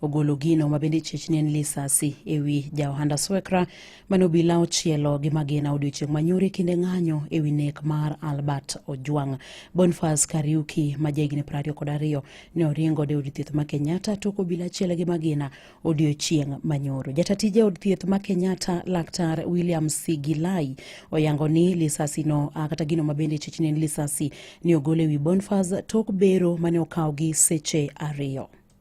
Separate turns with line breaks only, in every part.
ogolo gino ma bende chich ne en lisasi e wi ja ohanda Swekra mane obila ochielo gi magina odiochieng' manyore kinde ng'anyo e wi nek mar Albert Ojwang'. Bonfas Kariuki ma jahigni piero ariyo kod ariyo ne oringo de od thieth ma Kenyatta tok obila achiel gi magina odiochieng' manyoro. Jata tije od thieth ma Kenyatta laktar William Sigilai oyango ni lisasi no ah, kata gino ma bende chich ne en lisasi ni ogol e wi Bonfas tok bero mane okawo gi seche ariyo.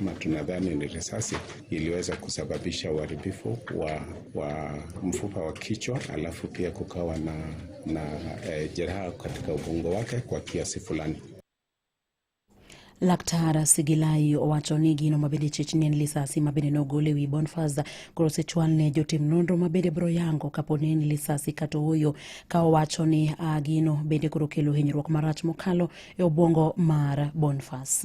na tunadhani ni risasi iliweza kusababisha uharibifu wa, wa mfupa wa kichwa, alafu pia kukawa na, na e, jeraha katika ubongo wake kwa kiasi fulani.
Laktar Sigilai owacho ni gino mabende chich ni en lisasi mabende nogole wi Bonfaz koro sechwal ne jotim nonro mabende bro yango kapo ni en lisasi kato huyo ka owacho ni uh, gino bende koro kelo hinyruok marach mokalo e obwongo mar Bonfaz.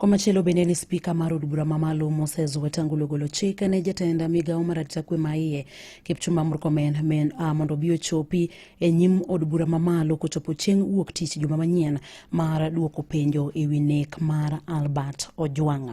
Komachielo bende ni spika mar od bura mamalo Moses Wetangula ogolo chik ne jatenda migawo mar arita kwe maiye Kipchumba Murkomen men uh, mondo obi ochopi e nyim od bura mamalo kochopo chieng' wuok tich juma manyien mar duoko penjo e wi nek mar Albert Ojwang'.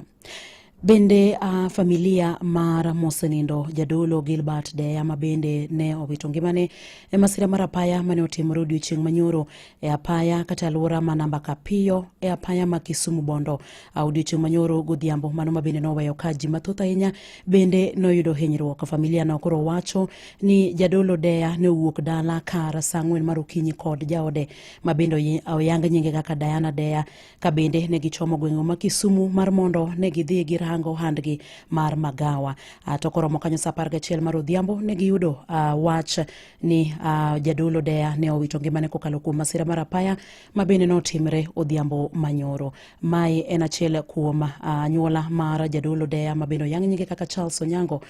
Bende a familia mar mosenindo jadolo Gilbert Deya ma bende ne owito ngimane e masira mar apaya mane otimore odiochieng' manyoro e apaya kata alwora ma namba Kapiyo e apaya ma Kisumu Bondo. Odiochieng' manyoro godhiambo mano ma bende noweyo ka ji mathoth ahinya bende noyudo hinyruok. Familia no koro wacho ni jadolo Deya ne owuok dala kar saa ang'wen mar okinyi kod jaode ma bende oyang nyinge kaka Diana Deya ka bende ne gichomo gweng'o ma Kisumu mar mondo ne gidhi girango handgi mar magawa. Ah, to koromo kanyo sa apar gachiel mar odhiambo ne giyudo ah, wach ni ah, jadolo Deya ne owito ngimane kokalo kuom masira mar apaya ma bende notimre odhiambo manyoro. Mae en achiel kuom anyuola mar jadolo Deya ma bende oyang' nyinge kaka Charles Onyango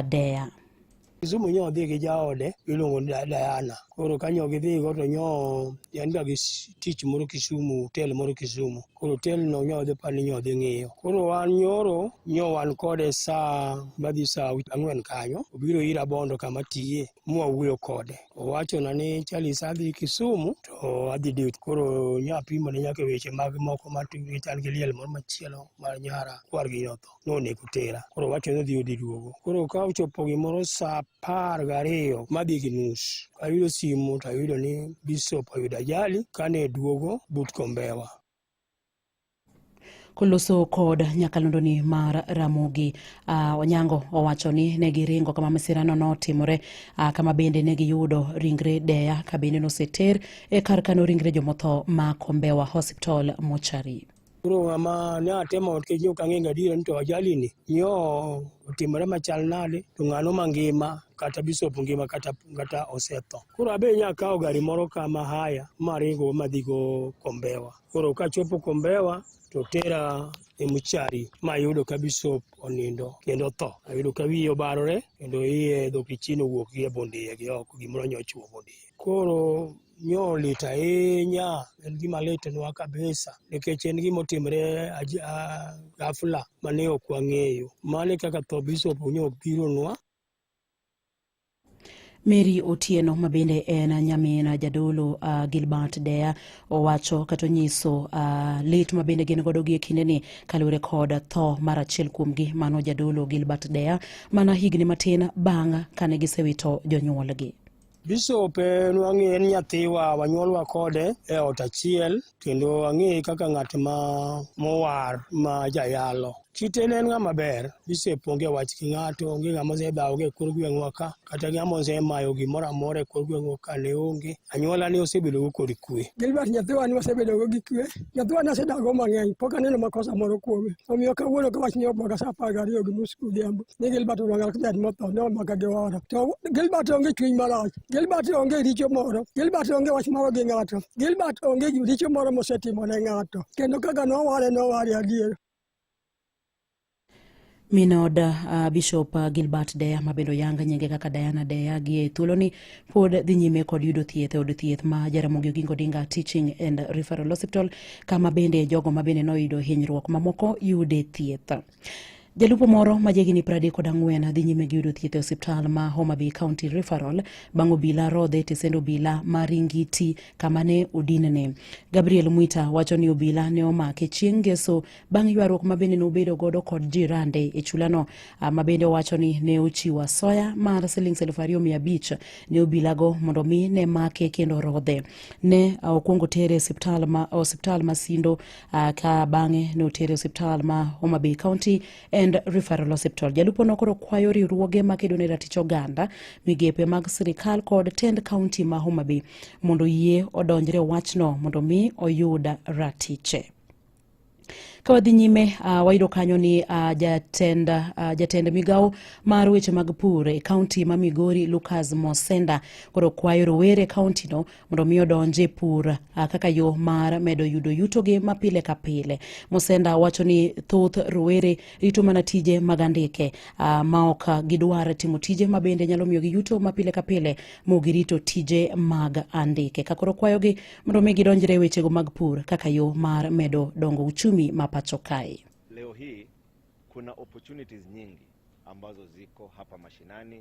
Deya. Kisumu
nyo odhi gi jaode miluongo ni Diana. Koro ka nyo gidhigo to nyo en ga gi tich moro Kisumu, hotel moro Kisumu. Koro hotel no nyo odhi pani nyo odhi ng'iyo. Koro wan nyoro nyo wan kode saa madhi saa ang'wen kanyo. Obiro ira Bondo kama tiye mwawuoyo kode. Owachona ni Charles adhi Kisumu to adhi date. Koro nyo apimone nyaka weche mag moko matugi chal gi liel moro machielo mar nyara kwargi notho. nonego tera koro wacho ni odhi odi duogo koro ka ochopo gimoro saa apar gariyo madhi gi nus ayudo simu to ayudo ni bishop oyudo ajali kane duogo but kombewa
koloso kod nyakalondoni mar Ramogi uh, Onyango owacho ni ne giringo kama masirano notimore uh, kama bende ne giyudo ringre Deya ka bende noseter e kar kano ringre jomotho ma Kombewa Hospital mochari. Koro ng'ama
ne atemo nikech ne ok ang'eyo gadier ni to ajalini nyo otimore machal nade to ng'ano mangima kata bishop ngima kata, kata osetho. Koro abe nyakawo gari moro ka mahaya maringo madhigo Kombewa. Koro kachopo Kombewa to tera e muchari ma ayudo ka bishop onindo kendo tho. Ayudo ka wiye obarore kendo iye dhokichino wuok gi e bund iye gi oko gimoro nyochuo bund iye. Koro nyo lit ahinya, en gima litnwa kabisa nikech en gima otimre ghafla mane ok wang'eyo. Mano e kaka tho Bishop nyo obironwa.
Mary Otieno ma bende en nyamin jadolo uh, Gilbert Deya owacho kata onyiso uh, lit ma bende gin godo gi e kindeni kaluwore kod tho mar achiel kuomgi mano jadolo Gilbert Deya mana higni matin bang' kane gisewito jonyuolgi. Bishop
en wang'e en nyathiwa wanyuolwa kode e ot achiel kendo ang'eye kaka ng'at ma mowar ma jayalo. Kite ne en ng'ama ber, Bishop onge wach gi ng'ato, onge ng'ama osedhawo e kor gweng'wa ka, kata ng'ama osemayo gimoro amora e kor gweng'wa ka ne onge. Anyuola ne osebedogo kod kwe. Gilbert nyathiwa ne
wasebedogo gi kwe. Nyathiwa ne asedago mang'eny, pok aneno makosa moro kuome. Omiyo kawuono ka wach ni obwaga sa apar gariyo gi nus godhiambo, ni Gilbert Olwanga Kibet motho ne omaka gi oro. To Gilbert onge chuny marach. Gilbert onge richo moro. Gilbert onge wach moro gi ng'ato. Gilbert onge richo moro mosetimo ne ng'ato. Kendo kaka noware noware adier.
Minod uh, Bishop uh, Gilbert Deya ma bende oyang nyinge kaka Diana Deya gi e thuoloni pod dhi nyime kod yudo thieth e od thieth ma Jaramogi Oginga Odinga Teaching and Referral Hospital kama bende jogo ma bende noyudo hinyruok mamoko yude thieth. Jalupo moro ma jahigini 34 dhi nyime gi yudo thieth e osiptal ma Homa Bay County Referral bang' obila rodhe e tesend obila ma Ringiti kama ne odinne. Gabriel Mwita wacho ni obila ne omake chieng' Ngeso bang' ywaruok ma bende nobedo godo kod jirande e chulano ah, ma bende owacho ni ne ochiwo asoya mar silings 2500 ne obilago mondo mi ne make kendo rodhe. Ne ah, okwongo tere e osiptal ma Sindo uh, ka bang'e notere e osiptal ma Homa Bay County and Referral Hospital. Jalupo nokoro kwayo riwruoge ma kedo ne ratich oganda, migepe mag sirikal kod tend kaunti ma Homa Bay mondo yie odonjre wachno mondo mi oyud ratiche. Ka wadhi nyime uh, wayudo kanyo ni uh, jatend, uh, jatend migawo mar weche mag pur e kaunti ma Migori Lucas Mosenda koro kwayo rowere e kauntino mondo mi odonje pur ah, kaka yo mar medo yudo yutogi ma pile ka pile. Musenda wacho ni thoth rowere rito mana tije mag andike ah, ma ok gidwar timo tije ma bende nyalo miyo gi yuto ma pile ka pile mo girito tije mag andike. Ka koro kwayogi mondo mi gidonjre wechego mag pur kaka yo mar medo dongo uchumi ma pacho kae. Leo hii
kuna opportunities nyingi ambazo ziko hapa mashinani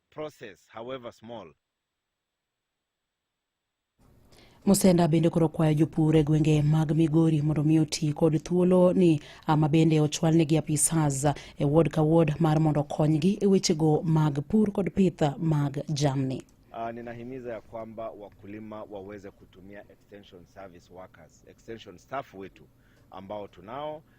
process, however small.
Musenda bende koro kwayo jopur e gwenge mag Migori mondo mi oti kod thuolo ni ama bende ochwalnegi apisas e ward ka ward mar mondo okonygi e wechego mag pur kod pith mag jamni. Uh, ninahimiza ya
kwamba wakulima waweze kutumia extension service workers, extension staff wetu ambao tunao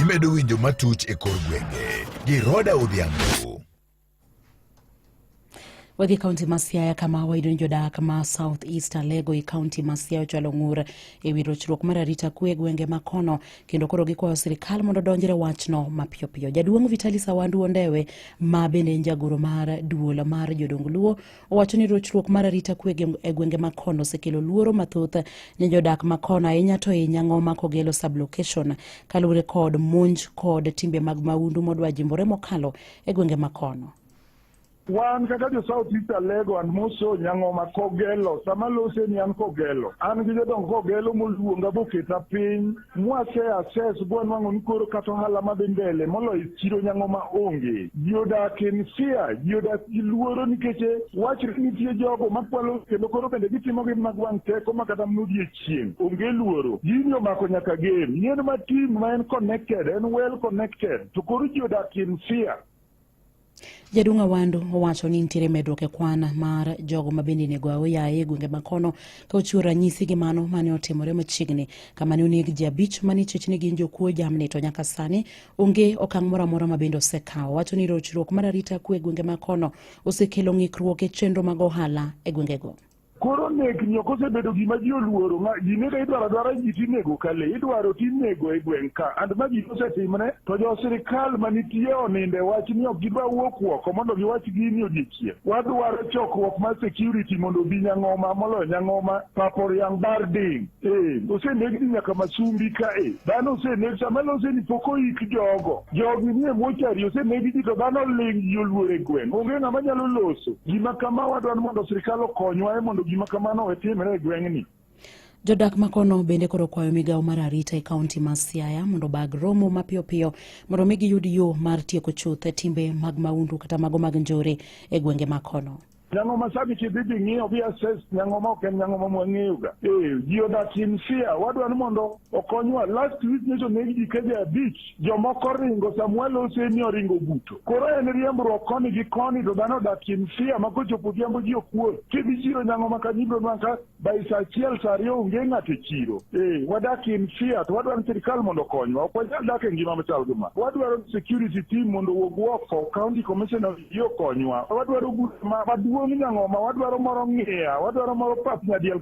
Imedo winjo matuch e kor gwenge gi Roda Odhiambo.
Wadhi kaunti ma Siaya kama wayudo ni jodak ma South East Alego e kaunti ma Siaya ochwalo ng'ur e wi rochruok mar arita kwe e gwenge ma kono kendo koro gikwayo sirkal mondo odonjre wachno mapiyo piyo. Jaduong' Vitali Sawandu Ondewe ma bende en jagoro mar duol mar jodong Luo Owacho ni rochruok mar arita kwe e gwenge ma kon osekelo luoro mathoth ne jodak ma kon ahinya to e Nyang'oma kogelo sublocation kaluwore kod monj kod timbe mag maundu modwa jimbore mokalo e gwenge ma kono.
Wan kaka jo South East Alego and Moso Nyang'oma Kogelo, sama lose ni an Kogelo, an gi jodong Kogelo moluonga boketa piny Mwasea ses bwa nwang'o ni koro kata ohala ma dhi mbele moloyo chiro nyang'o ma onge. Ji odak in fear, ji odak gi luoro nikech wachre ni nitie jogo makwalo kendo koro bende gitimo gi mag wang' teko ma kata mnudie chieng'. Onge luoro. Gini omako nyaka game. Yien ma team ma en connected, en well connected. To koro ji odak in fear.
Jaduong' Awandu owacho ni nitiere medruok e kwan mar jogo ma bende nego aoya e gwenge ma kono ka ochiwo ranyisi gi mano mane otimore machiegni kama ne oneg ji abich ma nichech ni gin jokuo jamni to nyaka sani onge okang' moro amora ma bende osekawo. Wacho ni rochruok mar arita kwe e gwenge ma kono osekelo ng'ikruok e chenro mag ohala e gwengego. Koro nek
ni ok osebedo gima ji oluoro, ng'a- ji nega idwaro adwara ji tinego ka le, idwaro tinego e gweng' ka. And ma ji osetimre, to jo sirkal manitie oninde wach ni ok gidwa wuok oko mondo giwach gini odiechieng'. Wadwaro chokruok mar security mondo obi Nyang'oma, moloyo Nyang'oma, Paporiang' Barding. Ee, oseneg ni nyaka masumbi ka e dhano oseneg sama lose ni pok oik jogo jogi nie mochari oseneg ji to dhano ling ji oluor e gweng' onge ng'ama nyalo loso gima kama wadwani mondo sirikal okonywa e mondo gima kamano owe timre e gweng'ni Jodak
makono bende koro kwayo migawo mar arita e kaunti ma Siaya mondo bag romo mapiyo piyo mondo mi giyud yo mar tieko chuth timbe mag maundu kata mago mag njore e gwenge makono. Nyango ma sani
kidhi dhi ng'iyo bi assess nyango ma ok en nyango ma mwang'eyoga. Eh, ji odak in fear. Wadwa ni mondo okonywa. Last week nyocha oneg ji keje abich. Jomoko ringo Samuel Oseni oringo buto. Koro en riembruok koni gi koni to dhano odak in fear ma kochopo odhiambo ji okuot. Kidhi chiro nyango ma Kanyibro man ka by saa achiel saa ariyo onge ng'ato e chiro eh, wadak in fear to wadwaro ni sirikal mondo okonywa ok wanyal dak e ngima machal gi ma wadwaro ni security team mondo owuog oko county commissioner of ji okonywa wadwaro group ma- maduong' nyang'oma wadwaro moro ng'iya wadwaro moro pap nyadiel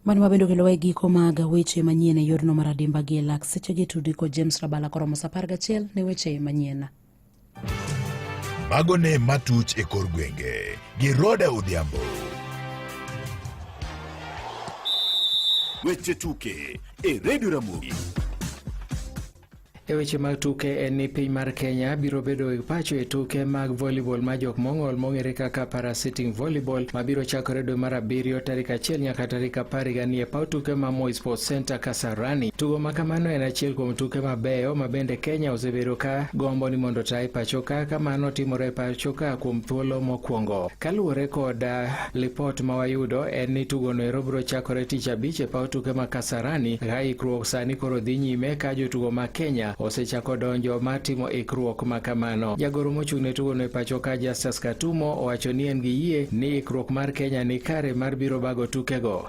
Mano ma bende okelowa e giko mag weche manyien e yorno mar adimba gi e lak sechegi tudi kod James Rabala koromo saa apar gachiel ne weche manyien. Mago
ne matuch e kor gwenge gi Roda Odhiambo.
Weche tuke e Redio Ramogi.
E weche mag tuke en ni piny mar Kenya biro bedo e pacho e tuke mag volleyball ma jok mong'ol mong'ere kaka para sitting volleyball ma biro chakore dwe mar abiriyo tarik achiel nyaka tarik apar higa ni e paw tuke ma Moi Sports Center Kasarani. Rani. Tugo ma kamano en achiel kuom tuke mabeyo ma bende Kenya osebedo ka gombo ni mondo tae pachoka ka mano timore pachoka kuom thuolo mokwongo. Kaluwore kod ah, lipot ma wayudo en ni tugono ero biro chakore tich abich e paw tuke ma Kasarani ka ikruok sani koro dhi nyime ka jotugo ma Kenya osechako donjo ma timo ikruok ma kamano. Jagoro mochung' ne tugono e pachoka Justus Katumo owacho ni en gi yie ni ikruok mar Kenya ni kare mar biro bago tukego.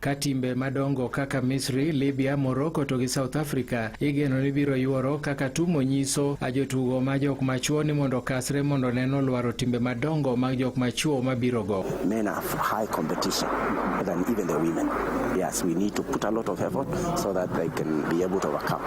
ka timbe madongo kaka Misri, Libya, Morocco to gi South Africa igeno ni biro yuoro kaka tumo nyiso a jotugo ma jok machuo ni mondo kasre mondo neno lwaro timbe madongo mag jok machuo mabiro go. Men are high
competition than even the women. Yes, we need to put a lot of effort so that they can be able to overcome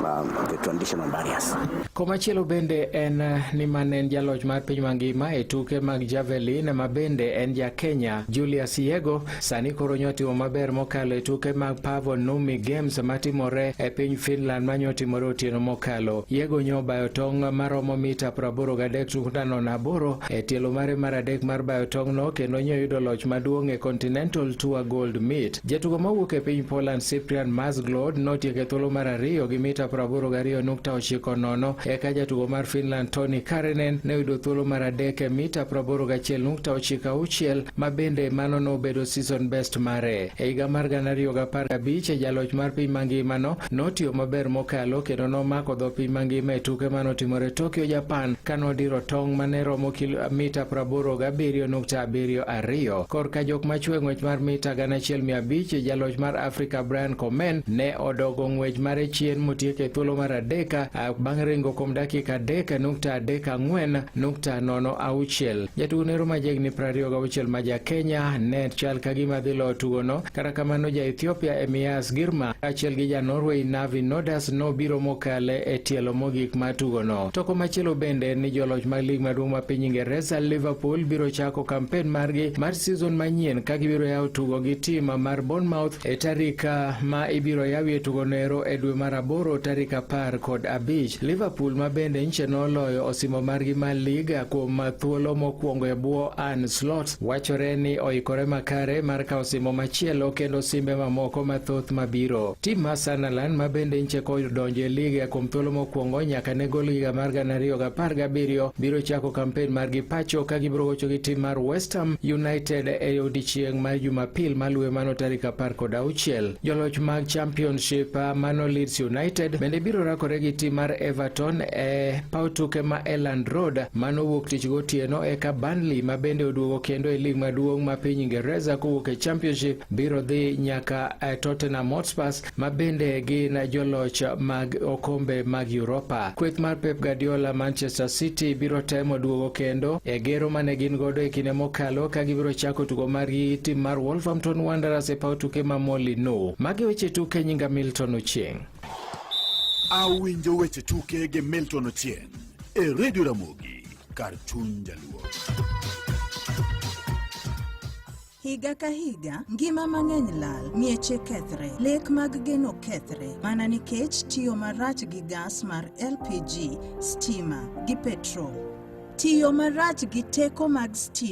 um, the traditional barriers. Komachielo bende
en eh, ni man en jaloch mar piny mangima e tuke mag javelin ma bende en ja Kenya Julius Yego Sani koro nyotimo maber mokalo e tuke mag Paavo Numi Games matimore e piny Finland ma nyotimore otieno mokalo. Yego nyo bayo tong' maromo mita 83.8 e tielo mare mar adek mar bayo tong'no kendo nyo yudo loch maduong' e Continental Tour Gold Meet. Jatugo mawuok e piny Poland Cyprian Masglod notieko e thuolo mar ariyo gi mita 82.90 eka jatugo mar Finland Toni Karinen ne oyudo thuolo mar adek e mita 81.96 ma bende mano nobedo season best mare. E higa mar gana ariyo gi apar gabich, jaloch mar piny mangimano notiyo maber mokalo kendo nomako dho piny mangima e tuke mane otimore Tokyo, Japan ka nodiro tong' mane romo kilomita praboro gabiriyo nukta abiriyo ariyo. Korka jok machwe ng'wech mar mita gana achiel mia abich, jaloch mar Afrika Brian Komen ne odogo ng'wech mare chien motieko e thuolo mar adek bang' ringo kuom dakika adek nukta adek ang'wen nukta nono auchiel. Jatugo nero ma jahigni 26 ma ja Kenya ne chal ka gima dhi loyo tugono. Kata kamano, ja Ethiopia Emias Girma kaachiel gi ja Norway Navi Nodas nobiro mokale e tielo mogik mar tugono. Toko machielo bende ni joloch mag lig maduong' ma piny Ingereza Liverpool biro chako kampen margi mar season manyien ka gibiro yawo tugo gi tim mar Bournemouth E tarik ah, ma ibiro yawie tugono ero e dwe mar aboro tarik apar kod abich, Liverpool ma bende nche noloyo osimo margi mar lig ah, kuom ah, thuolo mokwongo e bwo Arne Slot wachore ni oikore makare mar kawo osimo machielo kendo simbe mamoko mathoth mabiro. Tim mar Sunderland ma bende nche kodonjo e lig kuom thuolo mokwongo nyaka ne gol higa mar gana ariyo gi apar gabiriyo biro chako kampen margi pacho ka gibiro gocho gi tim mar West Ham United e odiechieng' mar Jumapil Jumapil maluwe mano tarik apar kod auchiel. Joloch mag Championship ah, mano Leeds United bende biro rakore gi tim mar Everton e paw tuke ma Elland Road mano wuok tich gotieno eka Burnley ma bende oduogo kendo e lig maduong' ma piny Ingereza kowuok e Championship biro dhi nyaka eh, Tottenham Hotspurs ma bende gin joloch mag okombe mag Europa. Kweth mar Pep Guardiola Manchester City biro temo duogo kendo e gero mane gin godo e kinde mokalo ka gibiro chako tugo margi tim mar Wolverhampton Wanderers e paw tuke ma Molyneux. Magi weche tuke nyinga Milton Ochieng'.
Awinjo weche tuke gi Milton Ochieng' e Radio Ramogi kar chuny jaluo.
Higa ka higa, ngima mang'eny lal, mieche kethre, lek mag geno kethre mana nikech tiyo marach gi gas mar LPG, stima, gi petrol. Tiyo marach gi teko mag stima